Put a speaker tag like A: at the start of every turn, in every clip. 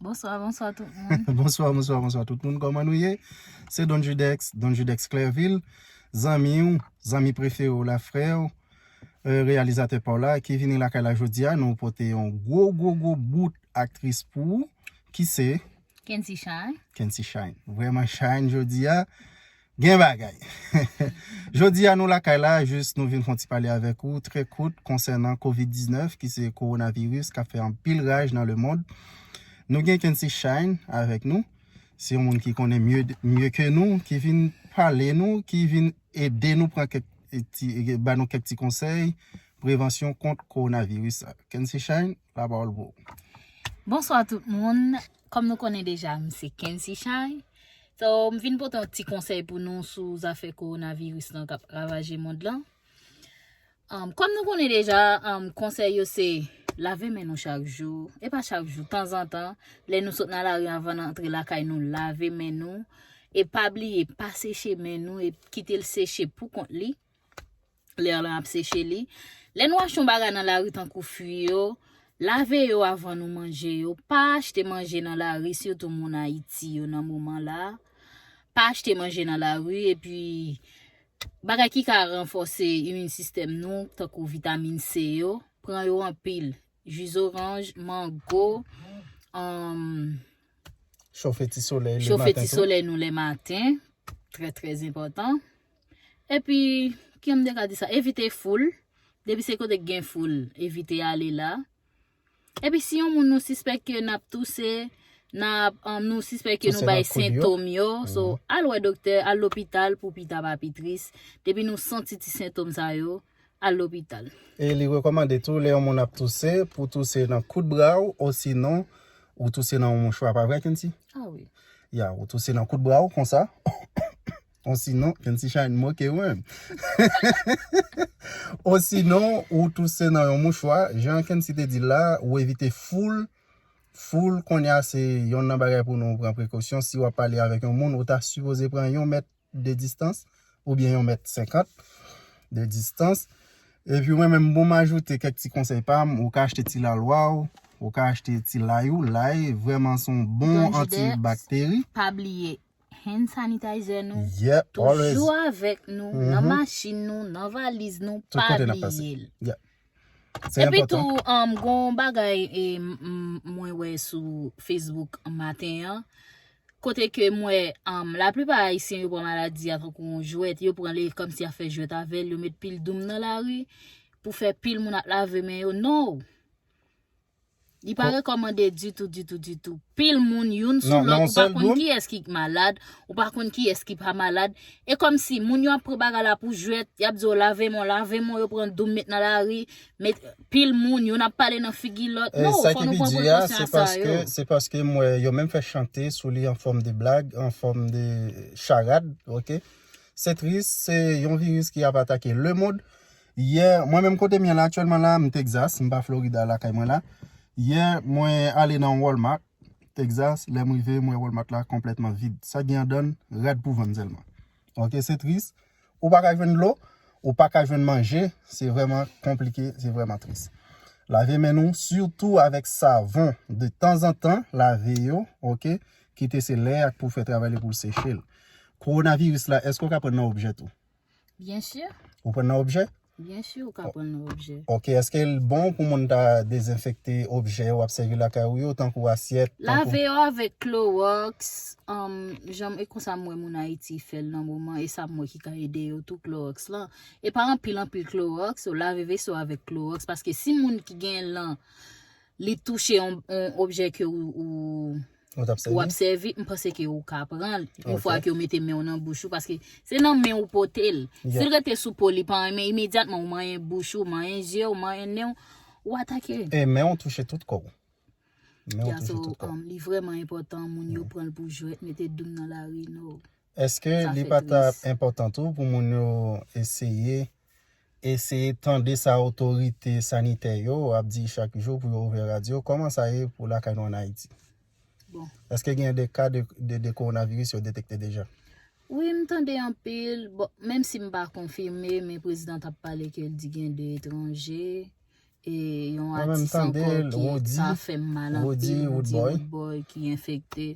A: Bonswa, bonswa tout moun. Bonswa, bonswa, bonswa tout moun.
B: Koman nou ye? Se Don Judex, Don Judex Clerville. Zanmi ou, zanmi prefere ou la frè ou, euh, reyalizatè pa ou la, ki vini lakay la jodi a, nou pote yon gwo, gwo, gwo bout aktris pou ou, ki se. Kency Shine.
A: Kency Shine. Vreman Shine
B: jodi a. Gen bagay! Jodi a nou lakay la, jis nou vin fon ti pale avèk ou trè kout konsènan Covid 19 ki se Coronavirus kap fè anpil raj nan le mond. Nou gen Kency Shine avèk nou, se yon moun ki konnen mye ke nou, ki vin pale nou, ki vin ede nou pran kèk ti, ba nou kèk ti konsèy prevansyon kont Coronavirus la. Kency Shine, la pawòl pou ou. Bonswa
A: tout moun, kòm nou konnen deja m se Kency Shine. So, m vin pote yon ti konsèy pou nou sou zafè kowonaviris lan k ap ravaje mond lan. Kòm nou konnen deja, konsèy yo se lave men nou chak jou, e pa chak jou, tanzantan, lè nou sot nan lari anvan n antre lakay nou, lave men nou, e pa bliye pa seche men nou, kite l seche pou kont li. Lè lan ap seche li. Lè nou achte yon bagay nan lari tankou fwi yo, lave yo avan nou manje yo. Pa achte manje nan lari sitou moun Ayiti yo nan moman la. Pa achte manje nan lari epi bagay ki ka ranfòse imin sistèm nou tankou vitamin C yo, pran yo anpil. Ji zoranj, mango, anm.
B: Chofe ti solèy nou le maten. Chofe ti solèy nou le
A: maten, trè trè enpòtan. Epi kijan m te ka di sa evite foul, depi se kote k gen foul evite ale la. Epi si yon moun nou sispèk ke n ap touse, n ap nou sispèk ke nou bay sentom yo, so al wè doktè, al lopital pou pita pa pi tris, depi nou santi ti sentom sa yo, al lopital. E li rekòmande
B: tou lè yon moun ap touse pou touse nan kout bra w osinon ou touse nan yon mouchwa pa vre Kenty? Ah wi.
A: Ya ou touse nan
B: kout bra w konsa. Osinon, kèn si chany moke ou menm. Osinon, ou touse nan yon mouchwa, jan kèn si te di l la, ou evite foul, foul kounye a se yonn nan bagay pou nou pran prekosyon, si w ap pale avèk yon moun, ou ta sipoze pran yon mèt de distans, oubyen yon mèt senkant de distans. Epi mwen menm pou m ajoute kèk ti konsèy pa m, ou ka achte ti lalwa w, ou ka achte ti lay ou, lay vrèman se yon bon anti bakteri. Pa bliye,
A: hand sanitizer nou toujou
B: avèk
A: nou nan machin nou, nan valiz nou, pa bliye l.
B: Epi
A: tou, gon bagay mwen wè sou Facebook maten an, kote ke mwen, la plipa ayisyen yo pran maladi a tankou yon jwèt, yo pran li kòmsi ya fè jwèt avè l, yo met pil doum nan lari, pou fè pil moun ap lave men yo, non! Li pa rekòmande ditou, ditou, ditou. Pil moun, youn sou lòt, ou pa konn ki es ki malad, ou pa konn ki es ki pa malad. E kòm si, moun yo ap pran bagay la pou jwèt, y ap di yo lave men w, lave men w, yo pran doum met nan lari, met pil moun, youn ap pale nan figi lòt. Non, fò nou pran prekosyon ak sa yo. Se paske m wè
B: yo menm fè chante sou li an fòm de blag, an fòm de charad, ok. Se tris, se yon viris ki ap atake lemond. Yè, mwen menm kote m ye la aktyèlman la, m Texas, m pa Florida lakay mwen la. Yè, mwen ale nan yon Walmart Texas, lè m rive, m wè Walmart la konplètman vid. Sa gen andan l, rad pou vann sèlman. Ok, se tris. Ou pa ka jwenn dlo, ou pa ka jwenn manje, se vrèman konplike, se vrèman tris. Lave men nou, sitou avèk savon, de tanzantan, lave yo, ok, kite se lè a k pou fè travay li pou l seche l. Kowonaviris la, èske w ka pran l nan objè tou? Bien
A: sûr. Ou pran nan objè?
B: Bien sûr ou ka
A: pran nan objè. Ok, eske l bon
B: pou moun ta dezenfekte objè wap sèvi lakay ou yo tankou asyèt, tankou. Lave yo avèk
A: klorox, um, janm e konsa m wè moun Ayiti fè l nan moman e sa m wè ki ka ede yo tou klorox lan. E pa anpil anpil klorox, lave veso avèk klorox paske si moun ki gen l lan li touche on objè ke ou ap sèvi, m panse ke ou ka pran, yon fwa ke ou mete men ou nan bouch ou, paske se nan men ou pote l, si l rete sou po li pa renmen, imedyatman ou manyen bouch ou, manyen je ou, manyen nen ou, ou atake. E men ou touche tout
B: kò ou. Men ou touche tout kò ou.
A: Li vreman enpotan moun yo pran l pou jwèt, mete doum nan lari, no. Eske li pa
B: tap enpotan tou pou moun yo eseye eseye tande sa otorite sanitè yo ap di chak jou pou yo ouvè radyo koman sa ye pou lakay nou an ayiti? Bon.
A: Eske gen de
B: ka de coronavirus yo detekte deja? Wi m tande
A: anpil, bon menm si m pa konfime men prezidan tap pale ke l di gen 2 etranje E yon atis anko ki sa
B: fem
A: mal
B: anpil
A: nou di rood
B: boy
A: ki
B: enfekte.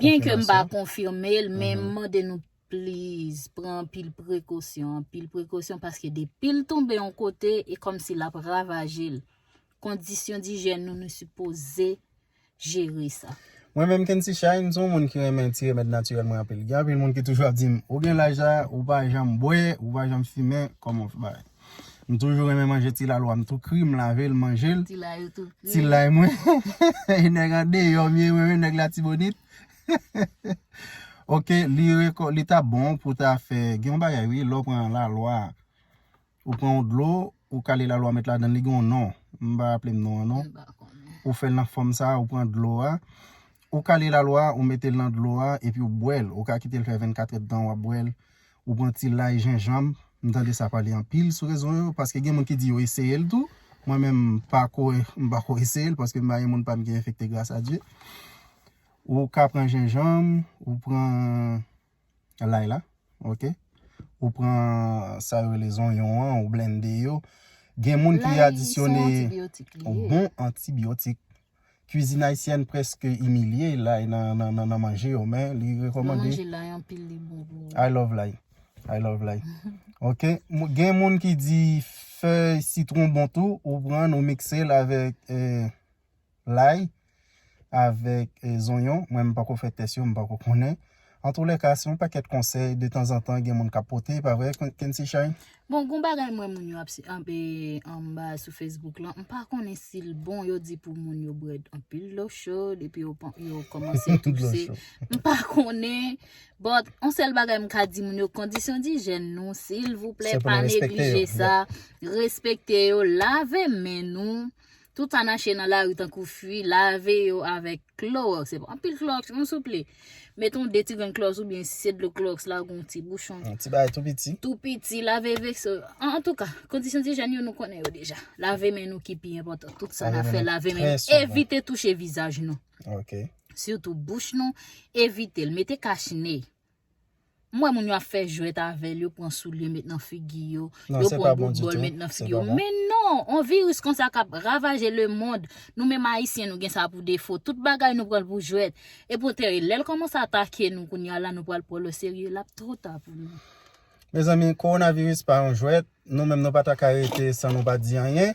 A: Byen ke
B: m pa konfime
A: l men
B: m mande
A: nou please pran anpil prekosyon, anpil prekosyon paske depi l tonbe yon kote e komsi lap ravaje l. Kondisyon dijèn nou nou sipoze jere sa. Mwen menm Kency Shine,
B: m son moun ki renmen ti remèd natirèl mwen anpil. Gen anpil moun ki toujou ap dim, ou gen laj la, ou pa janm bwè, ou pa janm fimen, kòman w fè bagay? M toujou renmen manje ti lalwa m tou kri, m lave l, m manje l. Ti lay ou tou kri. Ti
A: lay mwen.
B: E nèg andeyò m ye mwen menm, nèg Latibonit. Ok, li ta bon pou ta fè, gen yon bagay wi, lè w pran lalwa, Ou pran yon dlo, ou kale lalo a met ladan l, li gen yon non, m pa raple m non an non. Ou fè l nan fòm sa, ou pran dlo a, ou kale lalo a, ou mete l nan dlo a, epi ou bwè l. Ou ka kite l fè 24 èdtan w ap bwè l. Ou pran ti lay, jenjanm, m tande sa pale anpil sou rezo yo, paske gen moun ki di yo eseye l tou. Mwen menm m pako m pako eseye l paske m pa gen moun pa m ki enfekte gras a Dye. Ou ka pran jenjanm, ou pran. lay la ok ou pran sa yo rele zonyon an ou blende yo gen moun ki adisyone bon antibiotik kwizin ayisyèn preske imilye lay nan manje yo men li rekomande
A: I love lay
B: I love lay ok gen moun ki di fèy sitron bon tou ou pran ou mikse l avèk lay avèk zonyon mwen m pako fè tès yo m pako konnen antoulèka se yon pakèt konsèy de tanzantan gen moun kap pote epa vre Kency Shine? Bon gon bagay m
A: wè moun yo ap anpe anba sou Facebook lan m pa konnen sil bon yo di pou moun yo bwè anpil dlo chod epi yo kòmanse touse m pa konnen but yon sèl bagay m ka di moun yo kondisyon dijèn nou silvouplè pa neglije sa respekte yo lave men nou Tout sa nache nan lari tankou fwi, lave yo avèk klowòks. Se pa anpil klowòks non souple. Met yon 2 ti grenn klowòks oubyen si se dlo klowòks la ou gen yon ti bouchon. Yon ti bagay tou piti.
B: Tou piti, lave
A: veso. An tou ka, kondisyon dijèn yo nou konnen yo deja. Lave men nou ki pi enpòtan. Tout sa na fè lave men nou. Evite touche vizaj nou. Ok.
B: Sitou bouch
A: nou, evite l. Mete kach ne. M wè moun yo ap fè jwèt avè l, yo pran soulye met nan figi yo, yo pran bout bòl
B: met nan figi yo. Men
A: non, yon viris konsa k ap ravaje lemond, nou menm Ayisyen nou gen sa pou defo, tout bagay nou pran l pou jwèt. Epoutè, lè l kòmanse atake nou kounye a la, nou pral pran l oserye, l ap twò ta pou nou. Mezanmi,
B: kowonaviris pa yon jwèt, nou menm nou pa ta ka rete san nou pa di anyen.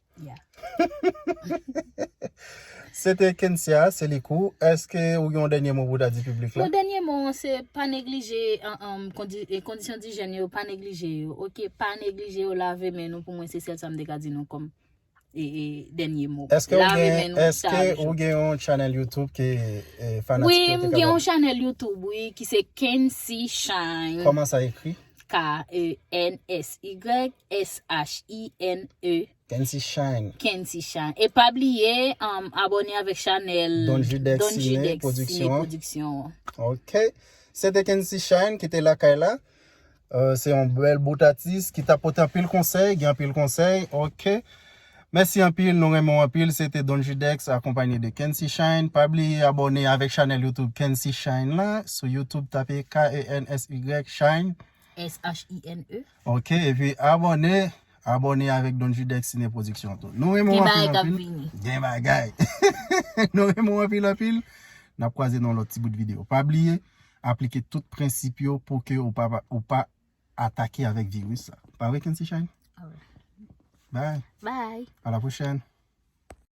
B: Se te Kencia Selicou, eske ou gen yon dènye mo pou ta di piblik la? Yon dènye mo an se pa
A: neglije kondisyon dijèn yo, pa neglije yo, ok, pa neglije yo, lave men nou pou mwen se sèl sa m te ka di nou kòm dènye mo. Eske
B: ou gen yon chanèl YouTube ke fanatik yo te ka ba ou? Wi, m gen yon chanèl
A: YouTube wi ki se Kency Shine. Kòman sa ekri?
B: K-e-n-s-y-s-h-i-n-e.
A: Kency Shine.
B: Kency Shine. E
A: pa bliye um, abone avèk chanèl Don Judex Cine
B: Production. Ok. Se te Kency Shine ki te lakay la. Euh, se yon bèl bout atis ki ta pote anpil konsèy, gen anpil konsèy. Ok. Mèsi anpil nou renmen w anpil se te Don Judex akonpanye de Kency Shine pa bliye abòne avèk chanèl YouTube Kency Shine la sou YouTube tape KENSY Shine SHINE.
A: ok epi
B: abòne abòne avèk Don Judex Cine Production tou nou renmen w Gen bagay anpil kap anpil vini. gen bagay nou renmen w anpil anpil nap kwaze nan yon lòt ti bout video pa bliye aplike tout prensip yo pouki ou pa ou pa atake avèk virus sa. Pa vre Kency Shine? Bye. Bye. A la pwochèn.